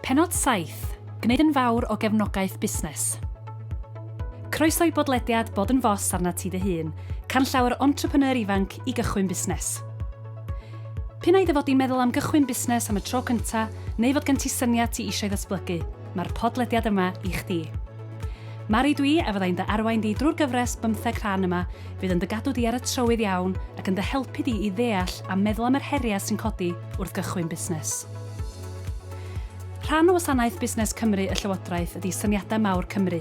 Pennod 7, Gwneud yn fawr o gefnogaeth busnes. Croeso i bodlediad Bod yn Fos arnat ti dy hun, canllawer entrepreneur ifanc i gychwyn busnes. P'un ai dy fod di'n meddwl am gychwyn busnes am y tro cynta, neu fod gen ti syniad ti eisiau ddatblygu, mae'r podlediad yma i chdi. Mari dwi a fyddai'n dy arwain di drwy'r gyfres bymtheg rhan yma, fydd yn dy gadw di ar y trywydd iawn ac yn dy helpu di i ddeall a meddwl am yr heriau sy'n codi wrth gychwyn busnes. Rhan o wasanaeth Busnes Cymru y Llywodraeth ydi Syniadau Mawr Cymru.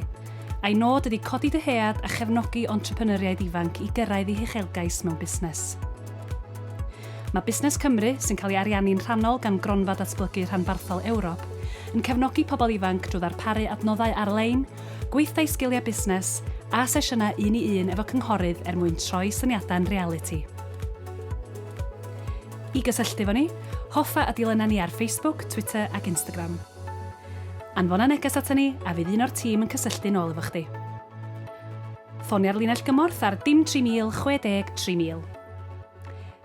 A'i nod ydi codi dyhead a chefnogi entrepreneuriaid ifanc i gyrraedd eu huchelgais mewn busnes. Mae Busnes Cymru, sy'n cael ei ariannu'n rhannol gan Gronfa Datblygu Rhanbarthol Ewrop, yn cefnogi pobl ifanc drwy ddarparu adnoddau ar-lein, gweithdai sgiliau busnes, a sesiynau un-i-un efo cynghorydd er mwyn troi syniadau'n realiti. I gysylltu efo ni, hoffa a dilyna ni ar Facebook, Twitter ac Instagram. Anfona neges aton ni a fydd un o'r tîm yn cysylltu'n ôl efo chdi. Ffonia'r linell gymorth ar dim 3000 60 3000.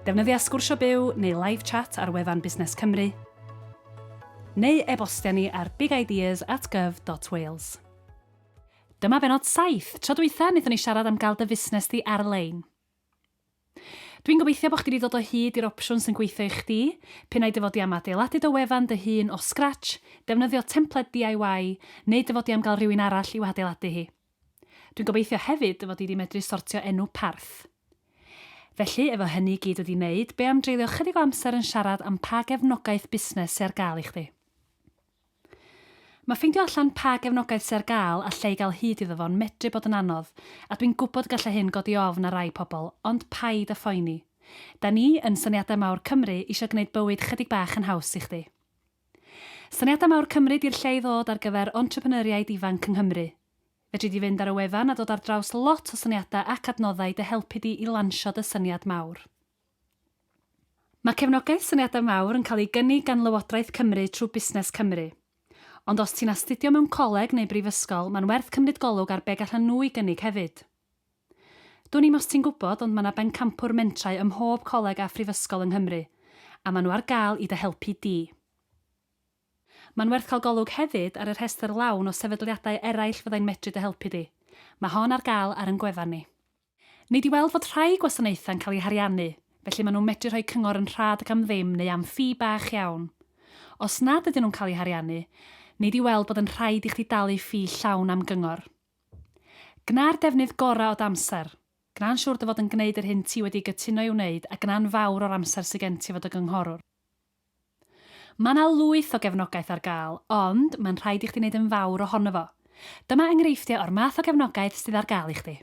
Defnyddia Sgwrsio Byw neu Live Chat ar wefan Busnes Cymru, neu e-bostia ni ar bigideas at gov dot wales. Dyma benod 7. Tro dwytha, wnaethon ni siarad am gael dy fusnes di ar-lein. Dwi'n gobeithio bod chdi wedi dod o hyd i'r opsiwn sy'n gweithio i chdi. Pinnau dy fod i am adeiladu dy wefan dy hun o scratch, defnyddio templed DIY, neu dy fod i am gael rhywun arall i'w hadeiladu hi. Dwi'n gobeithio hefyd dy fod di di medru sortio enw parth. Felly, efo hynny i gyd wedi neud, be am dreulio chydig o amser yn siarad am pa gefnogaeth busnes sy ar gael i chdi? Mae ffeindio allan pa gefnogaeth sy ar gael a lle i gael hyd iddo fo'n medru bod yn anodd, a dwi'n gwybod gallai hyn godi ofn ar rai pobl, ond paid â phoeni. Da ni, yn Syniadau Mawr Cymru, isio gneud bywyd chydig bach yn haws i chdi. Syniadau mawr Cymru di'r lle i ddod ar gyfer entrepreneuriaid ifanc yng Nghymru. Fedri di fynd ar y wefan a dod ar draws lot o syniadau ac adnoddau i dy helpu di i lansio dy syniad mawr. Mae cefnogaeth Syniadau Mawr yn cael ei gynnig gan Lywodraeth Cymru trwy Busnes Cymru. Ond os ti'n astudio mewn coleg neu brifysgol, mae'n werth cymryd golwg ar be gallan nhw i gynnig hefyd. Dwn i'm os ti'n gwybod ond mae 'na bencampwr mentrau ym mhob coleg a phrifysgol yng Nghymru, a maen nhw ar gael i dy helpu di. Mae'n werth cael golwg hefyd ar y rhestr lawn o sefydliadau eraill fyddai'n medru dy helpu di. Mae hon ar gael ar yn gwefan ni. Nei di weld fod rhai gwasanaethau'n cael eu hariannu, felly maen nhw'n medru rhoi cyngor yn rhad ac am ddim neu am ffi bach iawn. Os nad ydyn nhw'n cael eu hariannu, nei di weld bod yn rhaid i chdi dalu ffi llawn am gyngor. Gwna'r defnydd gorau o d'amser. Gwna'n siwr dy fod yn gwneud yr hyn ti wedi gytuno ei wneud a gwna'n fawr o'r amser sy gen ti efo dy gynghorwr. Mae 'na lwyth o gefnogaeth ar gael, ond mae'n rhaid i chdi wneud yn fawr ohono fo. Dyma enghreifftiau o'r math o gefnogaeth sydd ar gael i chdi.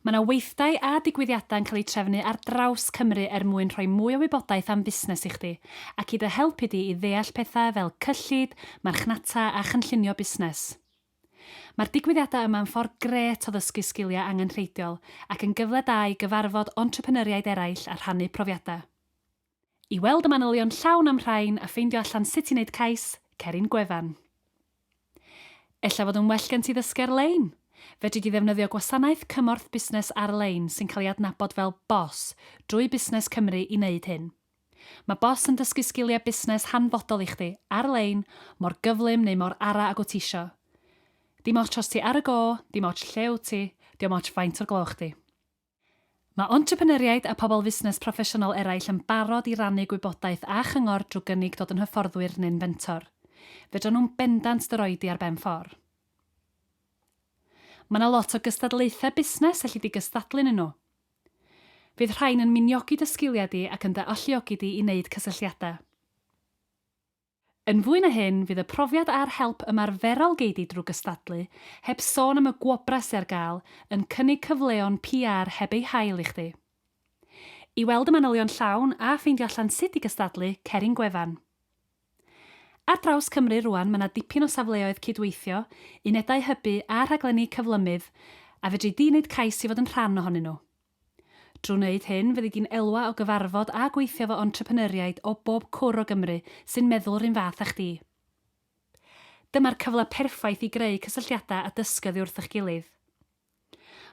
Mae yna weithdai a digwyddiadau yn cael eu trefnu ar draws Cymru er mwyn rhoi mwy o wybodaeth am fusnes i chdi, ac i dy helpu di i ddeall pethau fel cyllid, marchnata a chynllunio busnes. Mae'r digwyddiadau yma yn ffordd grêt o ddysgu sgiliau angenrheidiol ac yn gyfle da i gyfarfod entrepreneuriaid eraill a rhannu profiadau. I weld y manylion llawn am rhain a ffeindio allan sut i wneud cais, cer i'n gwefan. Ella fod yn well gen ti ddysgu ar-lein? Fedri di ddefnyddio gwasanaeth cymorth busnes ar-lein sy'n cael ei adnabod fel BOSS drwy Busnes Cymru i wneud hyn. Mae BOSS yn dysgu sgiliau busnes hanfodol i chdi, ar-lein, mor gyflym neu mor ara ag wyt ti isio. Dim ots os ti ar y go, dim ots lle wyt ti, dim ots faint o'r gloch di. Mae entrepreneuriaid a pobl fusnes proffesiynol eraill yn barod i rannu gwybodaeth a chyngor drwy gynnig dod yn hyfforddwyr neu'n fentor. Fedrwn nhw'n bendant dy roi di ar ben ffor. Mae yna lot o gystadlaethau busnes elli di gystadlu ynnyn nhw. Fydd rhain yn miniogi dy sgiliau di ac yn dy alluogi di i wneud cysylltiadau. Yn fwy na hyn, fydd y profiad a'r help ymarferol gei di drwy gystadlu, heb sôn am y gwobrau sy ar gael, yn cynnig cyfleon PR heb eu hail i chdi. I weld y manylion llawn a ffeindio allan sut i gystadlu, cer i'n gwefan. Ar draws Cymru rŵan mae 'na dipyn o safleoedd cydweithio, unedau hybu a rhaglenni cyflymudd a fedri di wneud cais i fod yn rhan ohonyn nhw. Drwy wneud hyn, fyddi di'n elwa o gyfarfod a gweithio efo entrepreneuriaid o bob cwr o Gymru sy'n meddwl yr un fath â chdi. Dyma'r cyfle perffaith i greu cysylltiadau a dysgu oddi wrth eich gilydd.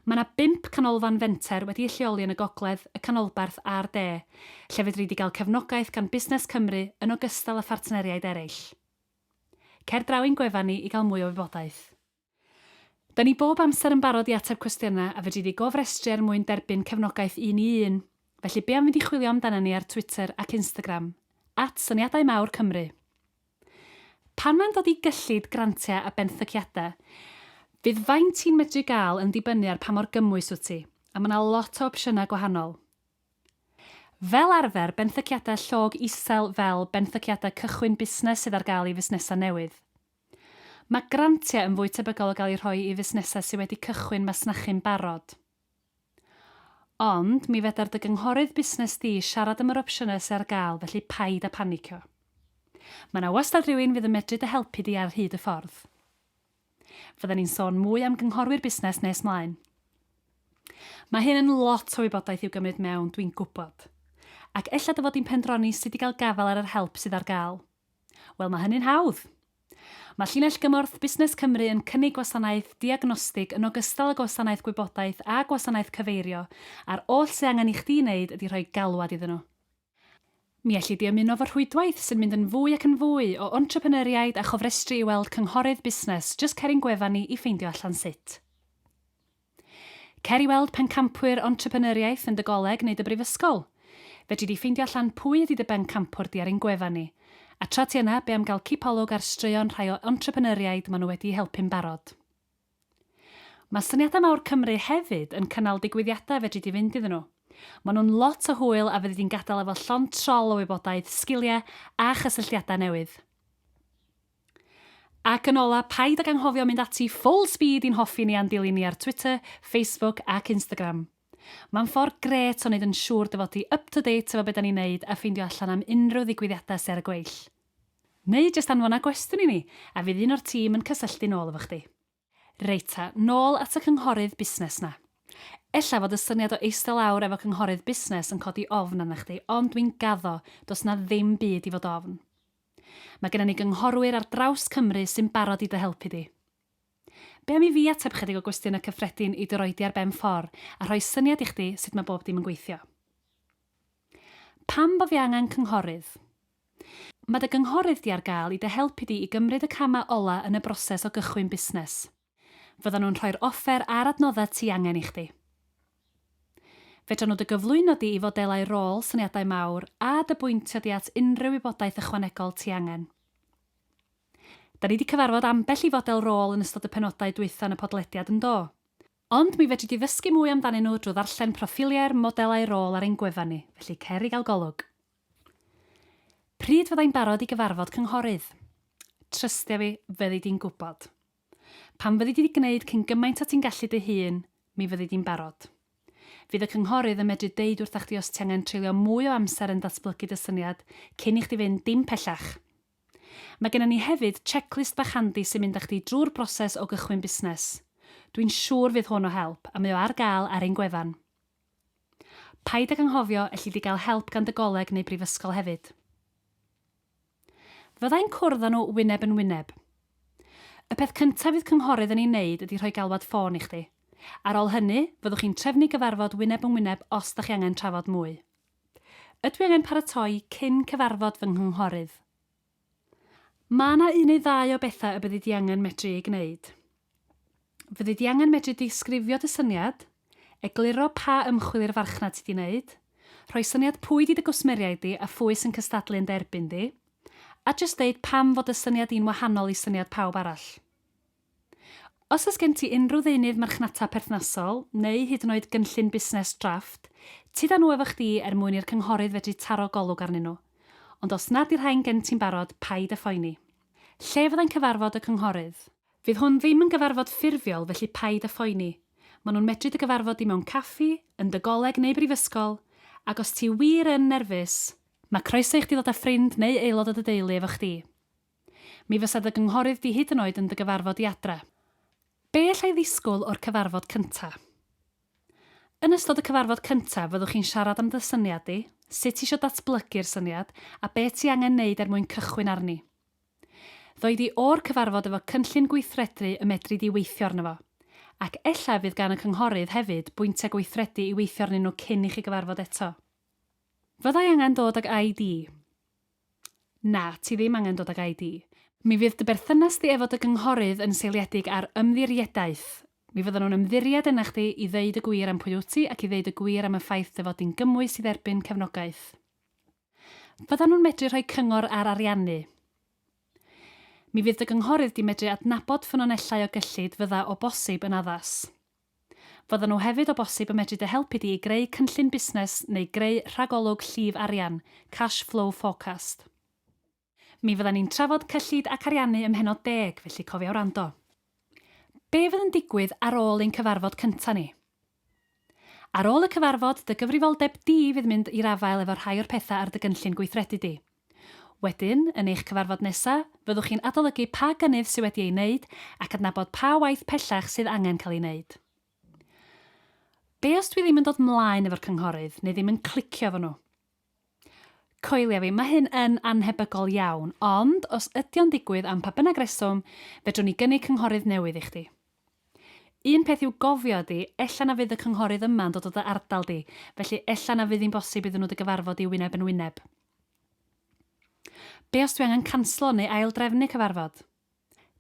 Mae yna bump canolfan fenter wedi'u lleoli yn y gogledd, y canolbarth a'r de, lle fedri di gael cefnogaeth gan Busnes Cymru yn ogystal â phartneriaid eraill. Cer draw i'n gwefan ni i gael mwy o wybodaeth. Da ni bob amser yn barod i ateb cwestiynau a fedri di gofrestru er mwyn derbyn cefnogaeth un i un. Felly be am fynd i chwilio amdana ni ar Twitter ac Instagram, at Syniadau Mawr Cymru. Pan mae'n dod i gyllid, grantiau a benthyciadau, fydd faint ti'n medru gael yn dibynnu ar pa mor gymwys wyt ti, a mae yna lot o opsiynau gwahanol. Fel arfer, benthyciadau llog isel fel benthyciadau cychwyn busnes sydd ar gael i fusnesau newydd. Mae grantiau yn fwy tebygol o gael eu rhoi i fusnesau sydd wedi cychwyn masnachu'n barod. Ond, mi fedar dy gynghorydd busnes di siarad am yr opsiynau sydd ar gael, felly paid â phanicio. Mae 'na wastad rhywun fydd yn medru dy helpu di ar hyd y ffordd. Fydden ni'n sôn mwy am gynghorwyr busnes nes mlaen. Mae hyn yn lot o wybodaeth i'w gymryd mewn, dwi'n gwybod. Ac ella dy fod di'n pendroni sut i gael gafael ar yr help sydd ar gael. Wel, mae hynny'n hawdd. Mae Llinell Gymorth Busnes Cymru yn cynnig gwasanaeth diagnostig yn ogystal â gwasanaeth gwybodaeth a gwasanaeth cyfeirio, a'r oll sydd angen i chdi wneud ydy rhoi galwad iddyn nhw. Mi elli di ymuno fo rhwydwaith sy'n mynd yn fwy ac yn fwy o entrepreneuriaid a chofrestru i weld cynghorydd busnes jyst cer i'n gwefan ni i ffeindio allan sut. Cer i weld Pencampwyr Entrepreneuriaeth yn dy goleg neu dy brifysgol. Fedri di ffeindio allan pwy ydy dy bencampwr di ar ein gwefan ni. A tra ti yna, be am gael cipolwg ar straeon rhai o entrepreneuriaid maen nhw wedi'u helpu'n barod. Mae Syniadau Mawr Cymru hefyd yn cynnal digwyddiadau fedri di fynd iddyn nhw. Maen nhw'n lot o hwyl a fyddi di'n gadael efo llond trol o wybodaeth, sgiliau a chysylltiadau newydd. Ac yn ola, paid ag anghofio mynd ati full speed i'n hoffi ni a'n dilyn ni ar Twitter, Facebook ac Instagram. Mae'n ffordd grêt o wneud yn siŵr dy fod ti up to date efo be da ni'n neud a ffeindio allan am unrhyw ddigwyddiadau sy ar y gweill. Neu jyst anfona gwestiwn i ni a fydd un o'r tîm yn cysylltu'n ôl efo chdi. Reit ta, nôl at y cynghorydd busnes 'na. Ella fod y syniad o eistedd lawr efo cynghorydd busnes yn codi ofn arna chdi ond dwi'n gaddo, does 'na ddim byd i fod ofn. Mae genna ni gynghorwyr ar draws Cymru sy'n barod i dy helpu di. Be am i fi ateb chydig o gwestiynau cyffredin i dy roi di ar ben ffor a rhoi syniad i chdi sut mae bob dim yn gweithio. Pam bo fi angen cynghorydd? Mae dy gynghorydd di ar gael i dy helpu di i gymryd y camau ola yn y broses o gychwyn busnes. Fyddan nhw'n rhoi'r offer a'r adnoddau ti angen i chdi. Fedran nhw dy gyflwyno di i fodelau rôl, syniadau mawr, a dy bwyntio di at unrhyw wybodaeth ychwanegol ti angen. Da ni di cyfarfod ambell i fodel rôl yn ystod y penodau dwytha yn y podlediad, yndo? Ond mi fedri di ddysgu mwy amdanyn nhw drwy ddarllen proffiliau'r modelau rôl ar ein gwefan ni, felly cer i gael golwg. Pryd fydda i'n barod i gyfarfod cynghorydd? Trystia fi, fyddi di'n gwybod. Pan fyddi di 'di gwneud cyn gymaint o ti'n gallu dy hun, mi fyddi di'n barod. Fydd y cynghorydd yn medru deud wrtha chdi os ti angen treulio mwy o amser yn datblygu dy syniad cyn i chdi fynd dim pellach. Mae gennym ni hefyd checklist bach handi sy'n mynd â chdi drwy'r broses o gychwyn busnes. Dwi'n siŵr fydd hwn o help, a mae o ar gael ar ein gwefan. Paid ag anghofio, elli di gael help gan dy goleg neu brifysgol hefyd. Fydda i'n cwrdd â nhw wyneb yn wyneb. Y peth cyntaf fydd cynghorydd yn ei wneud ydy rhoi galwad ffôn i chdi. Ar ôl hynny, fyddwch chi'n trefnu gyfarfod wyneb yn wyneb os da chi angen trafod mwy. Ydw i angen paratoi cyn cyfarfod fy nghynghhorydd? Mae yna un neu ddau o bethau y byddi di angen medru eu gwneud. Fyddi di angen medru disgrifio dy syniad, egluro pa ymchwil i'r farchnad ti di wneud, rhoi syniad pwy di dy gwsmeriaid di a phwy sy'n cystadlu yn dy erbyn di, a jyst deud pam fod dy syniad di'n wahanol i syniad pawb arall. Os oes gen ti unrhyw ddeunydd marchnata perthnasol, neu hyd yn oed gynllun busnes drafft, tyd â nhw efo chdi er mwyn i'r cynghorydd fedru taro golwg arnyn nhw. Ond os nad 'di'r rhain gen ti'n barod, paid â phoeni. Lle fyddai'n cyfarfod y cynghorydd? Fydd hwn ddim yn gyfarfod ffurfiol felly paid â phoeni. Maen nhw'n medru dy gyfarfod di mewn caffi, yn dy goleg neu brifysgol, ac os ti wir yn nerfus, mae croeso i chdi ddod â ffrind neu aelod o dy deulu efo chdi. Mi fysa dy gynghorydd di hyd yn oed yn dy gyfarfod di adra. Be alla i ddisgwyl o'r cyfarfod cynta? Yn ystod y cyfarfod cynta, fyddwch chi'n siarad am dy syniad di, sut ti isio datblygu'r syniad, a be ti angen neud er mwyn cychwyn arni. Ddoi di o'r cyfarfod efo cynllun gweithredru y medri di weithio arno fo. Ac ella y fydd gan y cynghorydd hefyd bwyntia gweithredu i weithio arnyn nhw cyn i chi gyfarfod eto. Fydda i angen dod ag ID. Na, ti ddim angen dod ag ID. Mi fydd dy berthynas di efo dy gynghorydd yn seiliedig ar ymddiriedaeth. Mi fyddan nhw'n ymddiried yna chdi i ddeud y gwir am pwy wyt ti ac i ddeud y gwir am y ffaith dy fod di'n gymwys i dderbyn cefnogaeth. Fyddan nhw'n medru rhoi cyngor ar ariannu. Mi fydd dy gynghorydd di medru adnabod ffynonellau o gyllid fydda o bosib yn addas. Fyddan nhw hefyd o bosib yn medru dy helpu di i greu cynllun busnes neu greu rhagolwg llif arian, cash flow forecast. Mi fyddan ni'n trafod cyllid ac ariannu ym mhennod deg, felly cofia wrando. Be fydd yn digwydd ar ôl ein cyfarfod cynta ni? Ar ôl y cyfarfod, dy gyfrifoldeb di fydd mynd i'r afael efo rhai o'r petha ar dy gynllun gweithredu di. Wedyn, yn eich cyfarfod nesaf, fyddwch chi'n adolygu pa gynnydd sydd wedi ei wneud ac adnabod pa waith pellach sydd angen cael ei wneud. Be os dwi ddim yn dod 'mlaen efo'r cynghorydd, neu ddim yn clicio efo nhw? Coelia fi, mae hyn yn annhebygol iawn, ond os ydy o'n digwydd am pa bynnag reswm, fedrwn ni gynnig cynghorydd newydd i chdi. Un peth i'w gofio ydy, ella na fydd y cynghorydd yma'n dod o dy ardal di, felly ella na fydd hi'n bosib iddyn nhw dy gyfarfod di wyneb yn wyneb. Be os dwi angen canslo neu ail-drefnu cyfarfod?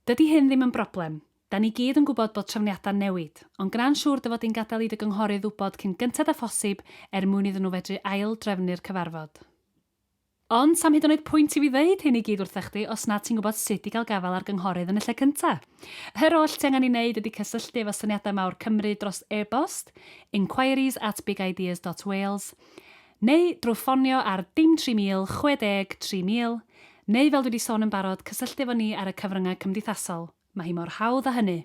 Dydi hyn ddim yn broblem, 'da ni gyd yn gwybod bod trefniadau'n newid, ond gwna'n siŵr dy fod di'n gadael i dy gynghorydd wybod cyn gynted â phosib er mwyn iddyn nhw fedru ail-drefnu'r cyfarfod. Ond 'sam hyd yn oed pwynt i fi ddeud hyn i gyd wrtha chdi os nad ti'n gwybod sut i gael gafael ar gynghorydd yn y lle cynta. Yr oll ti angen ei wneud ydi cysylltu efo Syniadau Mawr Cymru dros e-bost, inquiries at bigideas.wales, neu drwy ffonio ar dim 3000 60 3000, neu fel dwi 'di sôn yn barod, cysylltu efo ni ar y cyfryngau cymdeithasol. Mae hi mor hawdd â hynny.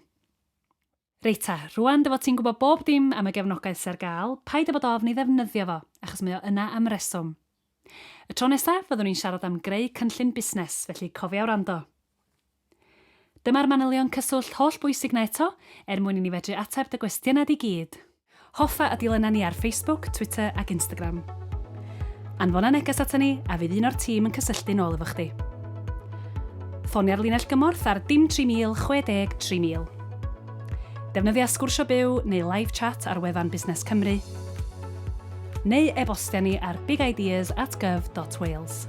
Reit ta, rŵan dy fod ti'n gwybod bob dim am y gefnogaeth sy ar gael, paid â bod ofn ei ddefnyddio fo, achos mae o yna am reswm. Y tro nesa, fyddwn ni'n siarad am greu cynllun busnes, felly cofia wrando. Dyma'r manylion cyswllt holl bwysig 'na eto, er mwyn i ni fedru ateb dy gwestiynau di gyd. Hoffa a dilyna ni ar Facebook, Twitter ac Instagram. Anfona neges ata ni a fydd un o'r tîm yn cysylltu'n ôl efo chdi. Ffonia'r linell gymorth ar dim 3000 60 3000. Defnyddia Sgwrsio Byw neu Live Chat ar wefan Busnes Cymru, neu e-bostia ni ar bigideas at gov dot wales.